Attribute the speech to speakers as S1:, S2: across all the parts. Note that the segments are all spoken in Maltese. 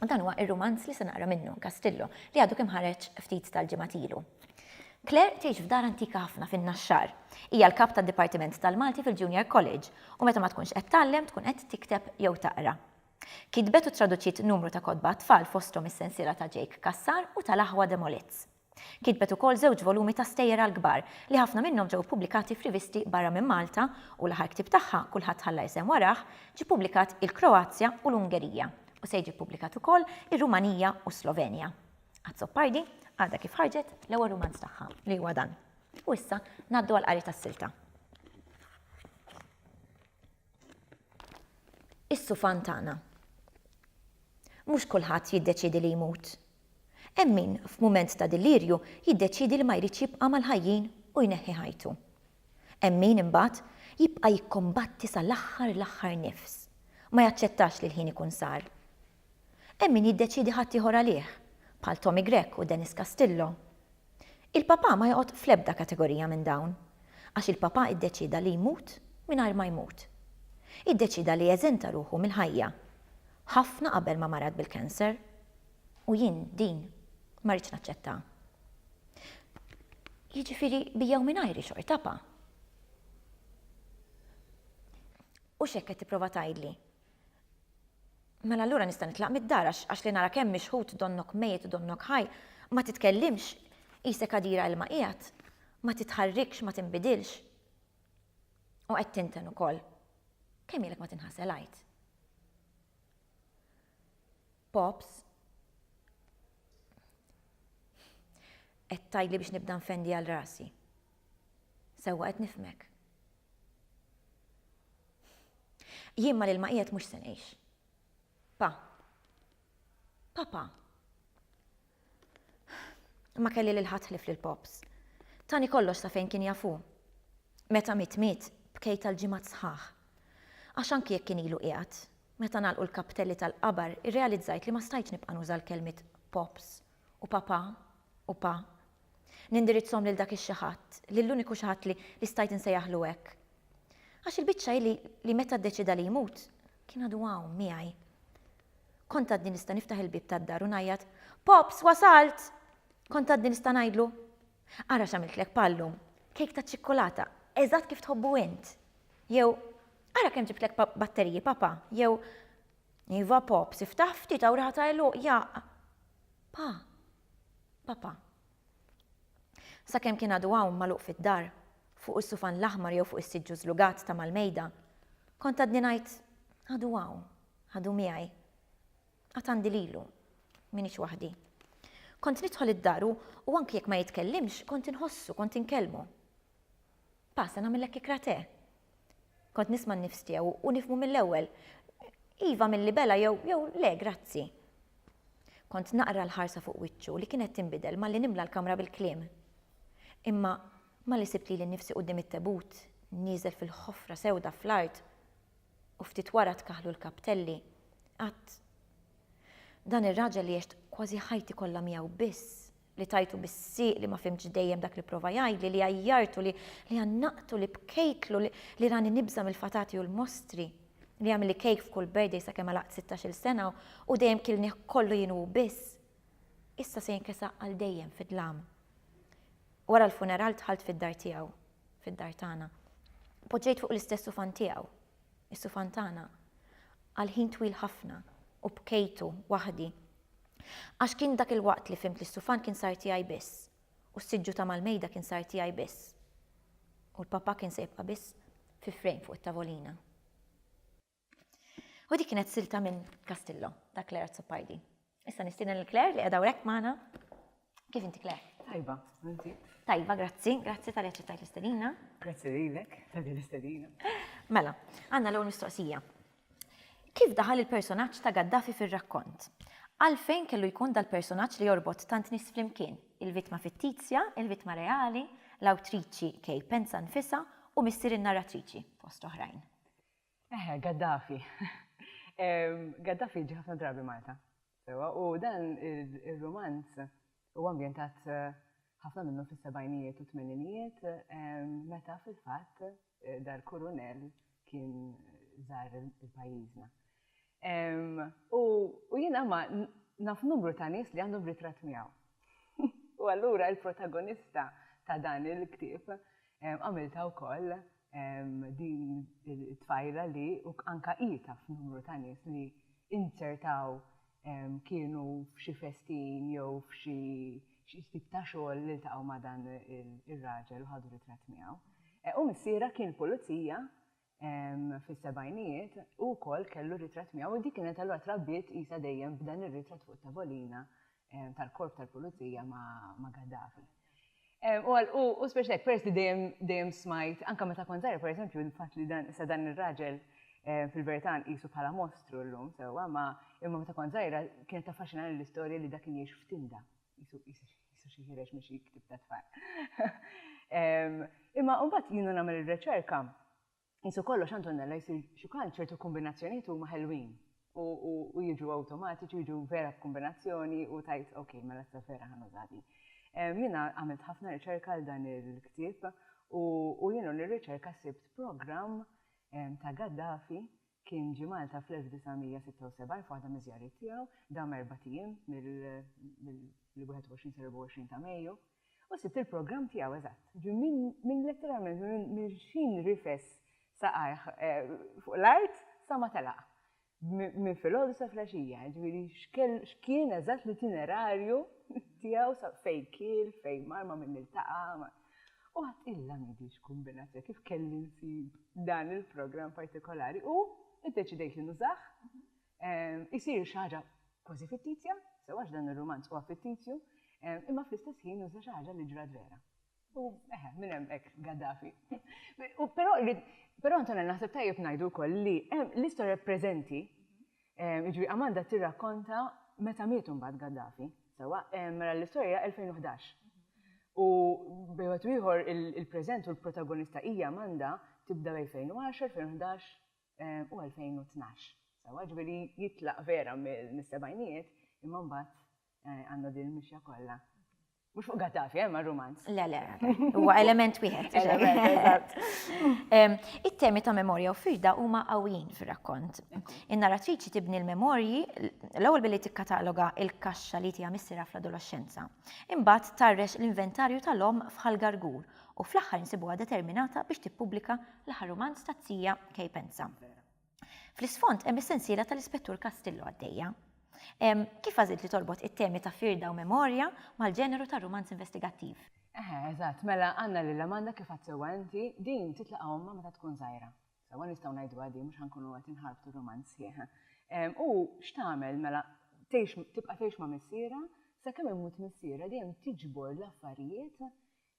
S1: U dan huwa ir-rumanz li se naqra minnu, Castillo, li għadu kemm ħareġ ftit tal-ġimgħat ilu. Claire tgħix f'dar antika ħafna fin-Naxxar. Hija l-kap tad-dipartiment tal-Malti fil-Junior College u meta ma tkunx qed tgħallem tkun qed tikteb jew taqra. Kitbet u ttraduċiet numru ta' kotba għat-tfal fosthom is-sensiela ta' Jake Cassar u tal-aħwa Demolits. Kitbet ukoll żewġ volumi ta' stejjer għall-kbar, li ħafna minnhom ġew ippubblikati f'rivisti barra minn Malta, u l-aħħar ktieb tagħha, Kulħadd Ħalla Isem Warah, ġie ppubblikat il-Kroazja u l-Ungerija, u se jiġi ppubblikat ukoll ir-Rumanija u s-Slovenja. Azzopardi għadha kif ħarġet l-ewwel rumanz tagħha, li huwa dan. U issa ngħaddu għall-qari tas-silta. Is-sufan tagħna. Mhux kulħadd jiddeċiedi li jmut, Hemm min, f'mument ta' delirju, jiddeċiedi li ma jridx jibqa' mal-ħajjin u jneħħi ħajtu. Hemm min, imbagħad, jibqa' jikkombatti sal-aħħar l-aħħar nifs, ma jaċċettax li l-ħin ikun sar. Hemm min jiddeċiedi ħaddieħor għalih, bħal Tommy Grech u Dennis Castillo. Il-Papa ma joqgħod fl-ebda kategorija minn dawn, għax il-Papa iddeċieda li jmut mingħajr ma jmut. Iddeċieda li jeżenta ruħu mill-ħajja, ħafna qabel ma marad bil-cancer. U jien din ma rridx naċċettaha. Jiġifieri bi jew mingħajri xorta pa. U x'hekk qed tipprova tgħidli? Mela allura nista' nitlaq mid-dar għax li nara kemm mixħut donnok mejjet u donnok ħaj, ma titkellimx, qisek għadira ilma qiegħed, ma titħarrikx, ma tinbidilx. U qed tinten ukoll. Kemm ilek ma tinħasel għid? Pops, Qed tgħidli biex nibda nfendi għal rasi. Sewwa qed nifhmek. Jien ma lil ma qiegħed mhux se ngħix. Pa. Papa. Ma kelli lil ħadd ħlief lil Pops. Tani kollox sa fejn kien jaf hu. Meta miet miet, bkejt għal ġimgħat sħaħ. Għax anki jekk kien ilu qiegħed, meta ngħalqu l-kaptelli tal-qabar irrealizzajt li ma stajtx nibqa' nuża l-kelmiet Pops u Papà u Pa. Nindirizzhom lil dak ix-xi ħadd, lill-uniku xi ħadd li stajt insejjaħlu hekk. Għax il-biċċa hi li meta ddeċieda li jmut, kien għadu hawn, miegħi. Kont għadni nista' niftaħ il-bieb tad-dar u ngħajjat, Pops, wasalt! Kont għadni nista' ngħidlu, Ara x'għamiltlek Pa llum, kejk taċ-ċikkulata, eżatt kif tħobbu int! Jew, Ara kemm ġibtlek batteriji, Papa! Jew, Iva, Pops, iftaħ ftit hawn riħa ta' għeluq jaqq'. Pa! Papa! Sakemm kien għadu hawn magħluq fid-dar, fuq is-sufan l-aħmar jew fuq is-siġġu żlugat ta' mal-mejda, kont għadni ngħid, Għadu hawn, għadu miegħi. Għad għandi lilu. M'iniex waħdi. Kont nidħol id-dar u anki jekk ma jitkellimx, kont inħossu, kont inkellmu. Pa, se nagħmillek ikra te. Kont nisma' n-nifs tiegħu u nifhmu mill-ewwel. Iva mil-libela jew jew le grazzi. Kont naqra l-ħarsa fuq wiċċu li kienet tinbidel malli nimla l-kamra bil-kliem. Imma malli sibt lili nnifsi quddiem it-tebut, nieżel fil-ħofra sewda fl-art u ftit wara tkaħħlu l-kaptelli, għadt, Dan ir-raġel li għext kważi ħajti kollha miegħu biss li tajtu bis-sieq li ma fhimtx dejjem dak li pprova jgħidli, li għajjartu, li għannaqtu, li bkejtlu, li rani nibża' mill-fatati u l-mostri, li għamilli kejk f'kull birthday sakemm għalaqt sittax-il sena u dejjem kilnih kollu jien u hu biss, issa se jinkisaq għal dejjem fid-dlam. Wara l-funeral dħalt fid-dar tiegħu, fid-dar tagħna. Poġġejt fuq l-istess sufan tiegħu, is-sufan tagħna, għal ħin twil ħafna u bkejtu waħdi. Għax kien dak il-waqt li fhimt li s-sufan kien sar tiegħi biss, u s-siġġu ta' mal-mejda kien sar tiegħi biss, u l-Papa kien se jibqa' biss fi frame fuq it-tavolina. U dik kienet silta minn Castillo, ta' Claire Azzopardi. Issa nistieden lil Claire li qiegħda hawn hekk magħna. Kif inti Claire? Tajba, inti?
S2: Tajba, grazzi,
S1: grazzi tal ċettajt l-istedina. Grazzi lilek
S2: tal l-istedina. Mela,
S1: għanna l-ewwel mistoqsija. Kif daħal il-personaġġ ta' Gaddafi fir-rakkont? Għalfejn kellu jkun dal-personaġġ li jorbot tant nies flimkien, il-vittma fittizja, il-vittma reali, l-awtriċi Kay Penza nfisha u missier in-narratriċi, fost oħrajn? Eħe,
S2: Gaddafi. Gaddafi ġi ħafna drabi Malta. Sewwa, u dan ir-rumanz huwa ambjentat ħafna minnu fis-sebgħinijiet u t-tmeninijiet meta fil-fatt dal-kurunell kien żar il-pajjiżna. U jiena ma naf numru ta' nies li għandhom ritratt miegħu. U allura l-protagonista ta' dan il-ktieb Għamiltha wkoll din it-tfajla li anke hi taf numru ta' nies li inzertaw kienu f'xi festin jew f'xi tip ta' xogħol li ltaqgħu ma' dan ir-raġel u ħadu ritratt miegħu. U missierha kien pulizija fis-sebgħinijiet, hu wkoll kellu r-ritratt miegħu u di kienet allura trabbiet qisha dejjem b'dan ir-ritratt fuq it-tavolina tal-korp tal-pulizija ma' Gaddafi. U speċi hekk, peress li dejjem dejjem smajt, anke meta kont żgħira, pereżempju, il-fatt li dan issa dan ir-raġel fil-verità nqisu bħala mostru llum sewwa, ma imma meta kont żgħira kienet taffaxxinani l-istorja li dak kien jgħix f'tinda. Qisu, qisu, qisu xi ħiereġ minn xi ktieb ta' tfal. Imma mbagħad jiena nagħmel ir-reċerka, qisu kollox Antonella jsir xi kultant ċertu kombinazzjonijiet huma ħelwin u jiġu awtomatiċi u jiġu vera b'kombinazzjoni u tgħid ok, mela issa vera ħa nuża din. Jiena għamilt ħafna riċerka għal dan il-ktieb u jiena nirriċerka sibt programm ta' Gaddafi Kien ġie Malta fl-1976 f'waħda miż-żjariet tiegħu, dam erbat ijiem, mill-21 sal-24 ta' Mejju, u sibt il-programm tiegħu eżatt. Ġi minn letteralment minn x'ħin rifes saqajh fuq l-art sa ma telaq, minn filgħodu sa flaxija, jiġifieri x'kien eżatt l-itinerarju tiegħu sa fejn kiel, fejn mar, ma' min iltaqa', U għad ilha m'għidix kumbinazzjoni kif kelli nsib dan il-programm partikolari u iddeċidejt li nużah. Isir xi ħaġa kważi fittizja, sew għax dan ir-rumanz huwa fittizju, imma fl-istess ħin nuża xi ħaġa li ġrat vera. U eħe, minn hemm hekk Gaddafi. Però Antonella naħseb tajjeb ngħidu wkoll li l-istorja preżenti Jiġifieri Amanda tirrakkonta meta miet imbagħad Gaddafi. Sewwa, mela l-istorja hija 2011. U bejn wieħed u ieħor il-preżent u l-protagonista hija Amanda tibda bejn 2010, 2011 u 2012. Sewwa, jiġifieri jitlaq vera mis-sebgħinijiet imma mbagħad Eh, għandu din il-mixja kollha. Mux fuq Gaddafi, eh, ma' romanz. Le, le, huwa
S1: element wieħed. It-temi ta' memorja u firda huma qawwin fir-rakkont. In-narratriċi tibni l-memorji l-ewwel billi tikkataloga il-kaxxa li tiha missira fl-adolescenza. Imbagħad tarrex l-inventarju tal-omm fħal gargur u fl-aħħar insibuha determinata biex tippubblika l-aħħar romanz ta' zija Kejpenza. Fl-isfond hemm is-sensiela tal-Ispettur Castillo għaddejja. Kif għażilt li torbot it-temi ta' firda u memorja mal-ġeneru tar-rumanz investigattiv? Eħe, eżatt,
S2: mela għandna lil Amanda kif għedt sewwa inti, din titlaqa' ommha meta tkun żgħira. Sewwa nistgħu ngħiduha din mhux ħa nkunu qed inħarbtu r-rumanz sħiħ. U x'tagħmel mela tgħix tibqa' tgħix ma' missierha sakemm imut missierha dejjem tiġbor l-affarijiet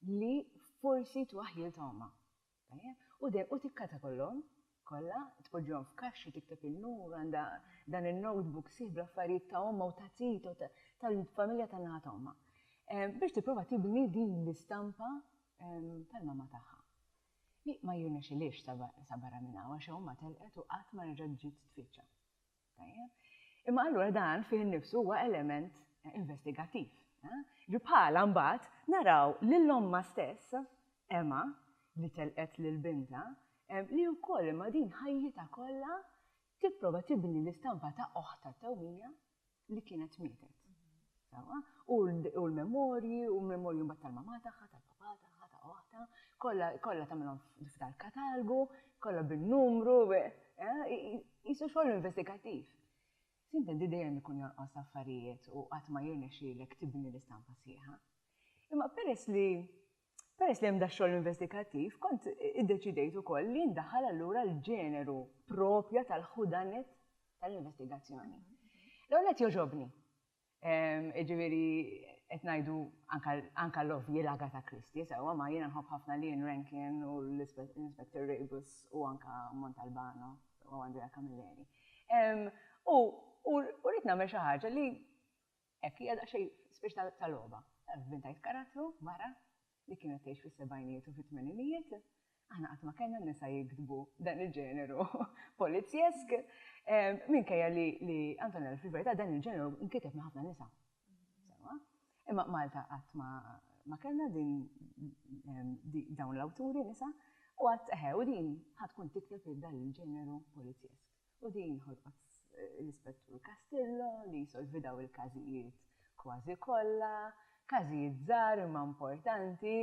S2: li forsi twaħħlilha ommha. Tajjeb, u dejjem u tikkata kollhom, kollha, tpoġġihom f'kaxxa u tikteb in-numru, għandha dan in-notebook sħiħ bl-affarijiet ta' ommha u ta' titha u ta' tal-familja tan-naħa ta' ommha. Biex tipprova tibni din l-istampa tal-mamma tagħha. Li ma jirnexxilhiex sa barra minn hawn għax ommha telqet u qatt ma reġgħet ġiet tfittxa. Tajjeb. Imma allura dan fih innifsu huwa element investigattiv. Ġi bħalha mbagħad naraw lil ommha stess, Emma, li telqet lil bintha, li wkoll imma din ħajjitha kollha tipprova tibni l-istampa ta' oħtha tewmija li kienet mietet. Sewwa, u l-memorji, u l-memorji mbagħad tal-mamà tagħha, tal-papà tagħha, ta' oħtha, kollha, kollha tagħmilhom f'dal katalgu, kollha bin-numru, qisu xogħol investigattiv. Sintendi dejjem ikun jonqos affarijiet u qatt ma jirnexxielek tibni l-istampa sħiħa. Imma peress li, peress li hemm dax-xogħol investigattiv, kont iddeċidejt ukoll li ndaħħal allura l-ġeneru proprja tal-who done it tal-investigazzjoni. L-ewwel nett jogħġobni, Jiġifieri qed ngħidu anke l-ovvji l-Agatha Christie sewwa, ma jiena nħobb ħafna l-Ian Rankin u l-Inspector Rebus u anke Montalbano u Andrea Camilleri. U rrid nagħmel xi ħaġa li hekk hija daqsxejn spiċċ ta' logħba. Inventajt karattru mara li kienet tgħix fis-sebgħinijiet u fit-tmeninijiet, aħna qatt ma kellna nisa jiktbu dan il-ġeneru polizzjesk, minkejja li Antonella fil-verità dan il-ġeneru nkiteb minn ħafna nisa. Sewwa? Imma Malta qatt ma kellna din dawn l-awturi nisa u qatt eħe u din ħa tkun tikteb dan il-ġeneru polizzjesk. U din ħolqot l-Ispettur Castillo li jsolvi dawn il-każijiet kważi kollha. Każijiet żgħar imma importanti,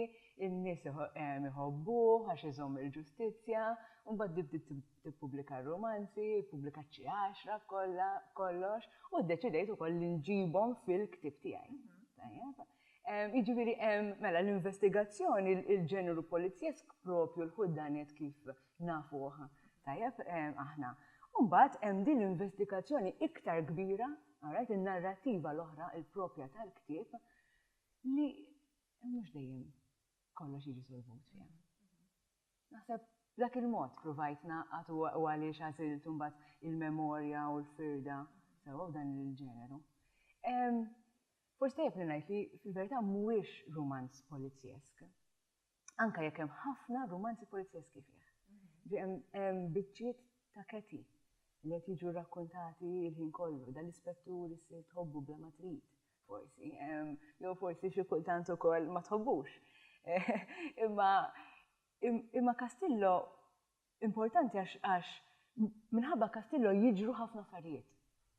S2: in-nies iħobbuh għax iżomm il-ġustizzja. Imbagħad di bdiet tippubblika r-rumanzi, ippubblikat xi għaxra b'kollha, b'kollox, u ddeċidejt ukoll li nġibhom fil-ktieb tiegħi. Tajjeb? Jiġifieri hemm, mela l-investigazzjoni, il-ġeneru polizzjesk proprju l-ħudanett kif nafuh tajjeb aħna. U mbagħad hemm din l-investigazzjoni iktar kbira, alright, in-narrattiva l-oħra, il-proprja tal-ktieb, li mhux dejjem kollox jiġi solvut fiha. Naħseb b'dak il-mod pruvajt ngħaqqad u għaliex għażilt imbagħad il-memorja u l-firda sewwa f'dan il-ġeneru. Forsi tajjeb li ngħid li fil-verità mhuwiex rumanz polizzjesk. anke jekk hemm ħafna rumanzi polizjeski fih. Hemm biċċiet ta' Katie li qed jiġu rrakkuntati l-ħin kollu, dan l-ispettur issir tħobbu bla ma trid, forsi, jew forsi xi kultant ukoll ma tħobbux. Imma Castillo Importanti għax għax minħabba Castillo jiġru ħafna affarijiet.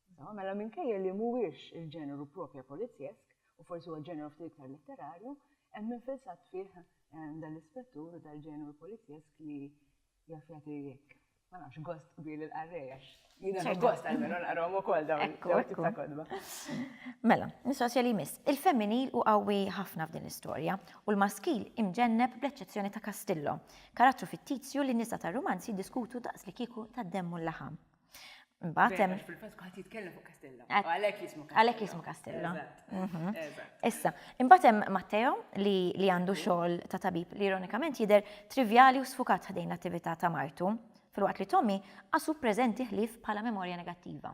S2: Insomma, mela minkejja li mhuwiex il-ġeneru propja polizjesk, u forsi huwa ġeneru ftit iktar letterarju, hemm infilzat fih dan l-ispettur u dal-ġeneru polizjesk li jaf jagħti jekk, ma nafx, gost kbir lill-qarrej għax Jina nibbost għalmenu naqrom u kol dawn ta' kodba. Mela,
S1: mistoqsija li jmiss. Il-femminil u qawwi ħafna f'din l-istorja u l-maskil imġenneb bl-eċċezzjoni ta' Castillo, karattru fittizju li n-nisa tar-rumanz jiddiskutu daqs li kieku tad-demm u l-laħam. Mbatem.
S2: Fil-fatt kuħat jitkellem fuq Castillo. Għalek jismu Castillo. Għalek jismu Castillo. Mhm.
S1: Issa, imbatem Matteo li għandu xogħol ta' tabib li ironikament jider trivjali u sfukat ħdejn l-attività ta' martu Filwaqt li Tommy qasu preżenti ħlief bħala memorja negattiva.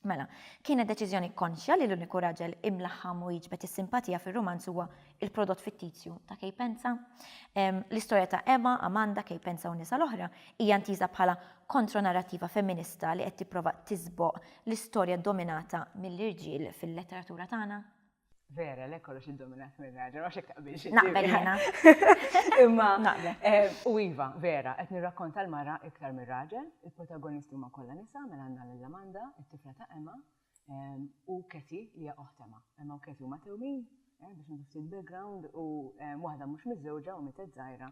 S1: Mela, kienet deċiżjoni konxja li l-uniku raġel imlaħħam u jiġbed is-simpatija fir-rumanz huwa l-prodott fittizju ta' Kay Penza? L-istorja ta' Emma, Amanda, Kay Penza u n-nisa l-oħra hija ntiża bħala kontro-narrattiva femminista li qed tipprova tiżboq l-istorja dominata mill-irġiel fil-letteratura tagħna? Vera, le
S2: kollox id-dominat minn raġel, ma xek taqbilx. Naqbel jena.
S1: Imma,
S2: eh, u Iva, vera, qed nirrakkonta l-mara iktar minn raġel, il-protagonisti huma kollha nisa mela għandna lil Amanda, it-tifla ta' Emma, eh, u Keti li hija oħt Emma. Emma u Keti huma tewmin, eh, biex niftit background u waħda mhux miżżewġa u mietet żgħira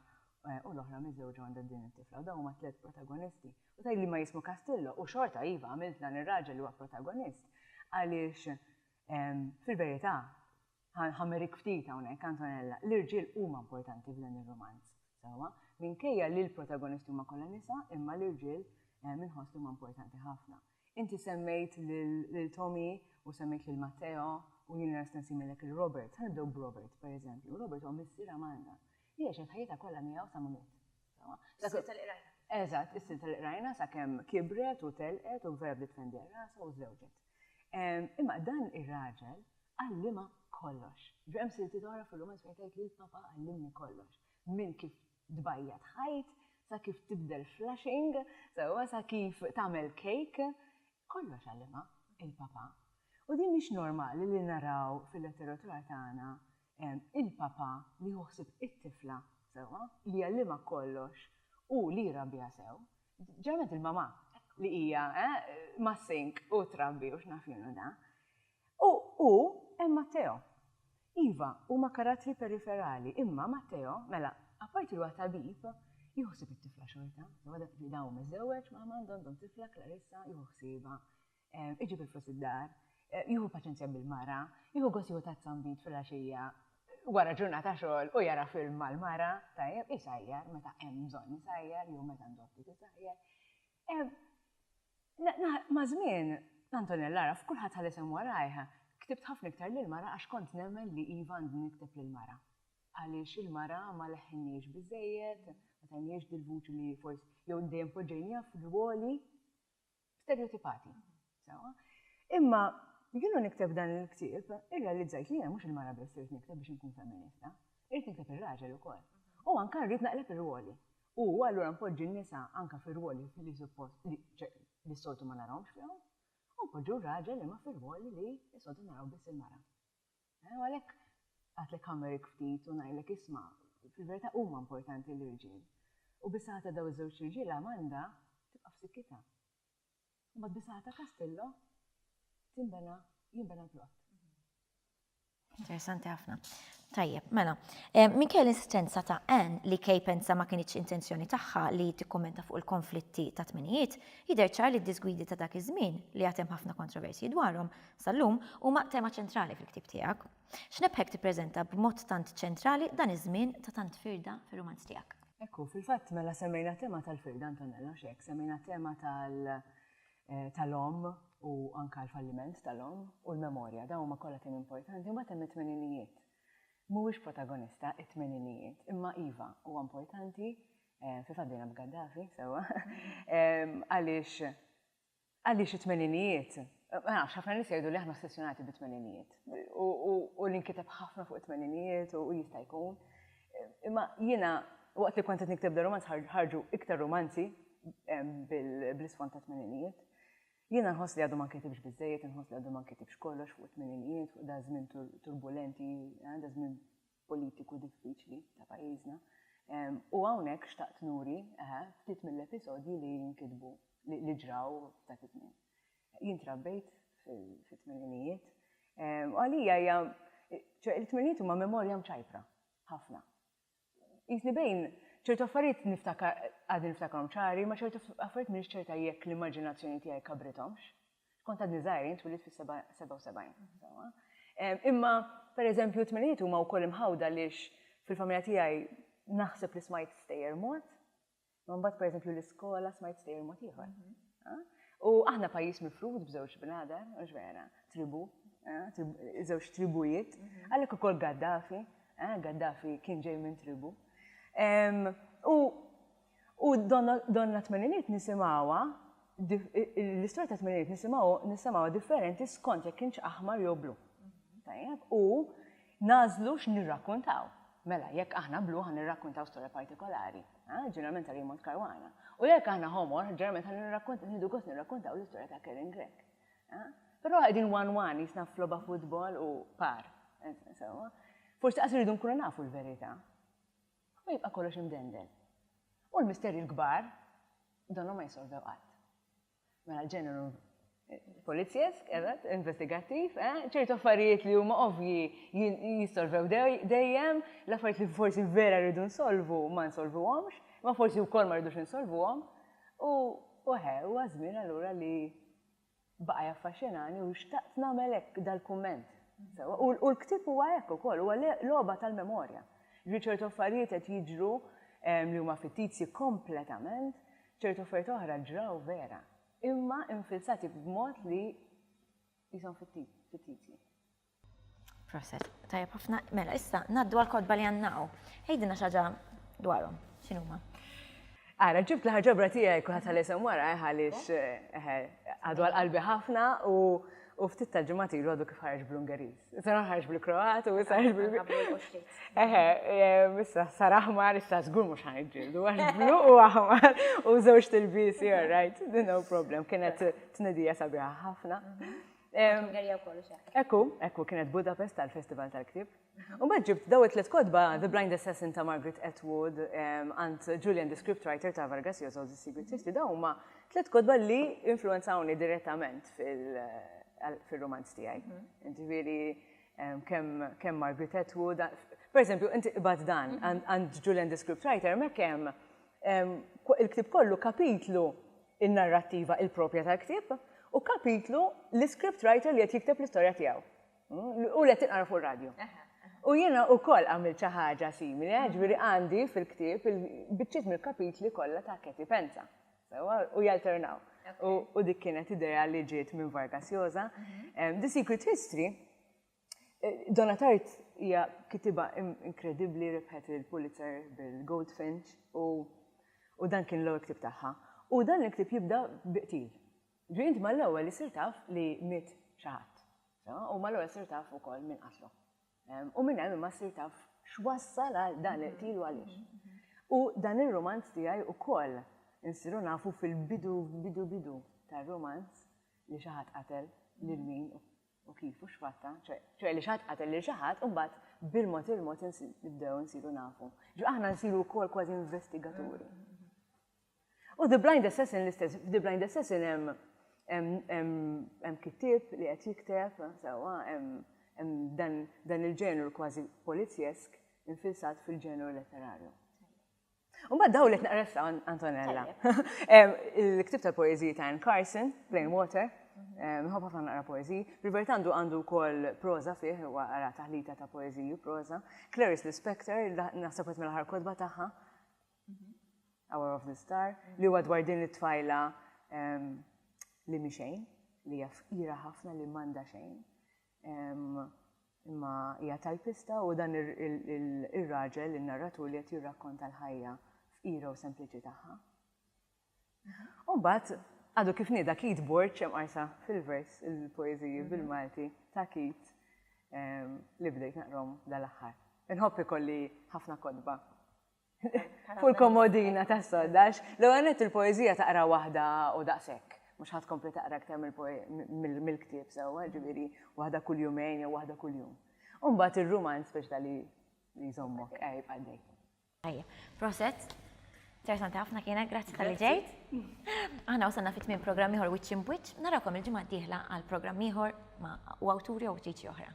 S2: u l-oħra miżżewġa għandha din it-tifla. U dawn huma tliet protagonisti. U tgħid li ma jismu Castillo u xorta iva għamilt dan ir-raġel li huwa protagonist għaliex Fil-verità, ħammerik ftit hawnhekk, Antonella, l-irġiel huma importanti f'dan ir-rumanz, sewwa. Minkejja li l-protagonisti huma kollha nisa, imma l-irġiel inħoss li huma importanti ħafna. Inti semmejt lil Tommy u semmejt lil Matteo u jiena lesta nsimmilek lil Robert. Ħa nibdew b'Robert, pereżempju. Robert huwa missier Amanda li għexet ħajjitha kollha miegħu sa ma miet. Is-silta
S1: li qrajna. Eżatt, is-silta li
S2: qrajna sakemm kibret u telqet u vera bdiet tfendi għal rasha u żżewġet. Imma dan ir-raġel għallimha kollox. Ġifieri hemm siltiet oħra fir-rumanz fejn tgħid li l-papa għallimni kollox. Minn kif tbajjad ħajt, sa kif tibdel flushing, sa kif tagħmel kejk. Kollox għallimha l-papa. U din mhix normali li naraw fil-letteratura tagħna il-papa li jieħu ħsieb it-tifla sewwa, li jgħallimha kollox u li jrabbiha sew. Ġabet il-mamà li hija mas-sink u trabbi u x'naf jienu da. U hu hemm Matteo. Iva, huma karattri periferali, imma Matteo, mela, apparti li huwa tabib, jieħu ħsieb it-tifla xorta. Sewa dak li da hu miżżewweġ, ma' Armando għandhom tifla, Clarissa, jieħu ħsiebha. Iġib il-flus id-dar, jieħu paċenzja bil-mara, jieħu gost jieħu tazza nbid filgħaxija wara ġurnata xogħol u jara film mal-mara, tajjeb, isajjar meta hemm bżonn isajjar jew meta għandu aptit isajjar. Maż-żmien, Antonella għaraf, kulħadd ħa l-isem warajh, ktibt ħafna iktar lill-mara għax kont nemmen li iva għandi nikteb lill-mara. Għaliex il-mara ma leħħinniex biżżejjed, ma tajniex dil-vuċi li forsi jew dejjem poġġejniha f'rwoli Stereotipati, sewwa. Imma jiena nikteb dan il-ktieb irrealizzajt li jiena mhux il-mara biss irrid nikteb biex inkun femminista, irrid nikteb ir-raġel ukoll. U anke rrid naqleb ir-rwoli. U allura npoġġi n-nisa anke fir-rwoli li suppost li s-soltu ma narahomx fihom, u npoġġu r-raġel imma fir-rwoli li s-soltu naraw biss il-mara. Hu għalhekk għadlek ħammerik ftit u ngħidlek isma', fil-verità huma importanti l-irġiel. U bis-saħħa ta' dawn iż-żewġt irġiel Amanda tibqa' f'sikkitha. U mbagħad bis-saħħa ta' Castillo tinbena, jinbena l-plott.
S1: Interessanti ħafna. Tajjeb, mela. Minkejja l-insistenza ta' Anne li Kay pensa ma kinitx intenzjoni tagħha li tikkummenta fuq il-konflitti tat-tmenijiet, jidher ċar li d-diżgwidi ta' dak iż-żmien, li għad hemm ħafna kontroversji dwarhom, Sal-lum huma tema ċentrali fil-ktieb tiegħek. X'nebħek tippreżenta b'mod tant ċentrali dan iż-żmien ta' tant firda fir-rumanz tiegħek? Hekk hu, fil-fatt mela
S2: semmejna t-tema tal-firda, Antonella, mhux hekk? Semmejna t-tema tal, tal-omm u anke l-falliment tal-omm u l-memorja, dawn huma kollha temi importanti, imbagħad hemm it-tmeninijiet. Mhuwiex protagonista it-tmeninijiet, imma iva, huwa importanti, fil-fatt bdejna b'Gaddafi, sewwa, għaliex Għaliex it-tmeninijiet? Ma nafx, ħafna nies jgħidu li aħna ossessjonati bit-tmeninijiet. U li nkiteb ħafna fuq it-tmeninijiet u jista' jkun. Imma jiena waqt li kont qed nikteb da romanz ħarġu iktar romanzi bl-isfond ta' tmeninijiet. Jiena nħoss li għadu ma nkitibx biżejjed, nħoss li għadu ma nkitibx kollox fuq it-tmeninijiet, fuq da żmien turbulenti, da żmien politiku diffiċli ta' pajjiżna. U hawnhekk xtaqt nuri ftit mill-episodji li nkitbu, li ġraw f'dak iż-żmien. Jien trabbejt fit-tmeninijiet u għalija hija, ċoe it-tmeninijiet huma memorja mċajpra ħafna. Qisni bejn ċertu affarijiet niftakar, għadni niftakarhom ċari, imma ċertu affarijiet m'iniex ċerta jekk l-immaġinazzjoni tiegħi kabrithomx. Skont għadni żgħir, jien twilit fis-77. Imma, pereżempju, t-tminijiet huma wkoll imħawda għaliex fil-familja tiegħi naħseb li smajt stejjer mod, ma mbagħad pereżempju l-iskola smajt stejjer mod ieħor. Mhm. U aħna pajjiż mifrud b'żewġ bnadar, mhux vera, tribu, żewġ tribujiet, mhm. għalhekk ukoll Gaddafi, Gaddafi kien ġej minn tribu. U U donna tmeniniet nisimgħuha, l-istorja tat-tmeniniet nisimgħu nissemgħuha differenti skont jekk kienx aħmar jew blu. Tajjeb? U nagħżlu x'nirrakkuntaw. Mela, jekk aħna blu ħa nirrakkuntaw storja partikolari, ġeneralment ta' Raymond Caruana. U jekk aħna ħomor, ġeneralment ħa nirrakkuntaw, nieħdu gost nirrakkuntaw l-istorja ta' Karen Grech. Però qegħdin one one jisna f'logħba futbol u par. Insomma, forsi qas irridu nkunu nafu l-verità. Imma jibqa' kollox imdendel. U l-misterji l-kbar domhom ma jissolvew qatt. Mela l-ġeneru polizzjesk, eżatt, investigattiv, eh, ċertu affarijiet li huma ovvji jissolvew dejjem, l-affarijiet li forsi vera rridu nsolvu ma nsolvuhomx, imma forsi wkoll ma rridux insolvuhom, u eħe, huwa ż-żmien allura li Baqa' jaffaxxinani u xtaqt nagħmel hekk dal-kumment. Sewwa, u u l-ktieb huwa hekk ukoll, huwa le logħba tal-memorja. Jiġifieri ċertu affarijiet qed jiġru li huma fittizji kompletament, ċertu affarijiet oħra ġraw vera, imma infilzati b'mod li qishom fittizji.
S1: Proset. Tajab ħafna. Mela, issa, naddu għal-kodba li għannaw. Ejdina xaġa dwarom, xinuma. Għara,
S2: ġibt l-ħarġabra tijaj kuħat għal-esem wara, eh, għalix eh, eh, għadu għal-qalbi ħafna u u ftit tal-ġimgħat ilu għadu kif ħarġ bl-Ungeriż. Issa ħarġ bil-Kroat u issa ħarġ bil Eħe, issa sar aħmar issa żgur mhux ħanġġieldu għax blu u aħmar u żewġ tilbisi, all right, no problem, kienet tnedija sabiħa ħafna. Mhm. Ungerija wkoll u xeħ. Ekku, ekku kienet Budapest għal Festival tal-Ktieb. U mbagħad ġibt daw it-tliet kotba The Blind Assassin ta' Margaret Atwood għand Julian the Scriptwriter ta' Vargas Llosa u The Secret History daw huma tliet kotba li influenzawni direttament fil-romanz tiegħi. Ġifieri kemm Margaret Atwood, per eżempju, inti qbad dan għand Julian the Scriptwriter, hemmhekk hemm il-ktieb kollu kapitlu in-narrattiva il-proprja tal-ktieb, u kapitlu l-iscript writer li qed jikteb l-istorja tiegħu. U li qed tinqara fuq ir-radju. U jiena wkoll għamilt xi ħaġa simili, eh, ġifieri għandi fil-ktieb il-biċċiet mill-kapitli kollha ta' Katie Penza. U jalternaw. U dik kienet idea li ġiet minn Vargas Joza. Mhm. The Secret History Donna Tart hija kitiba inkredibbli rebħet il-Pulitzer bil-Goldfinch u dan kien l-ewwel ktib tagħha. U dan il-ktib jibda biqtil. Ġrint mal-ewwel li sir taf li miet xi ħadd. U mal-ewwel sir taf ukoll min qatlu. U minn hemm imma sir taf x'wassal għal dan il-qtil u għaliex. U dan ir-romanz tiegħi ukoll insiru nafu fil-bidu bidu bidu tar-romanz li xi ħadd qatel lil min u kif u x'fatta, ċoe li xi ħadd qatel lil xi ħadd u mbagħad bil-mod il-mod nibdew insiru nafu. Ġo aħna nsiru wkoll kważi investigaturi. U The Blind Assassin l-istess, The Blind Assassin hemm hemm kittib li qed jikteb, sewwa hemm dan il-ġenru kważi polizjesk infilsat fil-ġenru letterarju. U bad daw li t-naqressa Antonella. Il-ktib tal-poeziji ta' Anne Carson, Plain Water, nħobb ħafna naqra poeziji. Rivert għandu għandu wkoll proza fih, u għara taħlita ta' poeziji u proza. Clarice Lispector, naħseb qed mill-aħħar kodba tagħha. Mhm. Hour of the Star, li huwa dwar din it-tfajla li mi xejn, li hija fqira ħafna li m'għandha xejn. Imma hija tajpista u dan ir-raġel, in-narratur li qed jirrakkonta l-ħajja fqira u sempliċi tagħha. U mbagħad għadu kif nieda Keith Borg hemm qarsa fil-vers il-poeżiji bil-Malti ta' Keith li bdejt naqrom dal-aħħar. Inħobb ikolli ħafna kotba Fuq il-komodina tas-sodda, għax l-ewwel nett il-poeżija taqra waħda u daqshekk, mhux ħa tkompli taqra aktar mill-ktieb sewwa, ġifieri waħda kull jumejn jew waħda kuljum. U mbagħad ir-rumanz biex ta' li jżommok eh, jibqa' għaddej. Ejja,
S1: proset. Interessanti ħafna kienet, grazzi tal-li ġejt. Aħna wasalna fit minn programm ieħor Witch in Witch, narakom il-ġimgħa d-dieħla għal programm ieħor ma' u awturi u ġiġi oħra.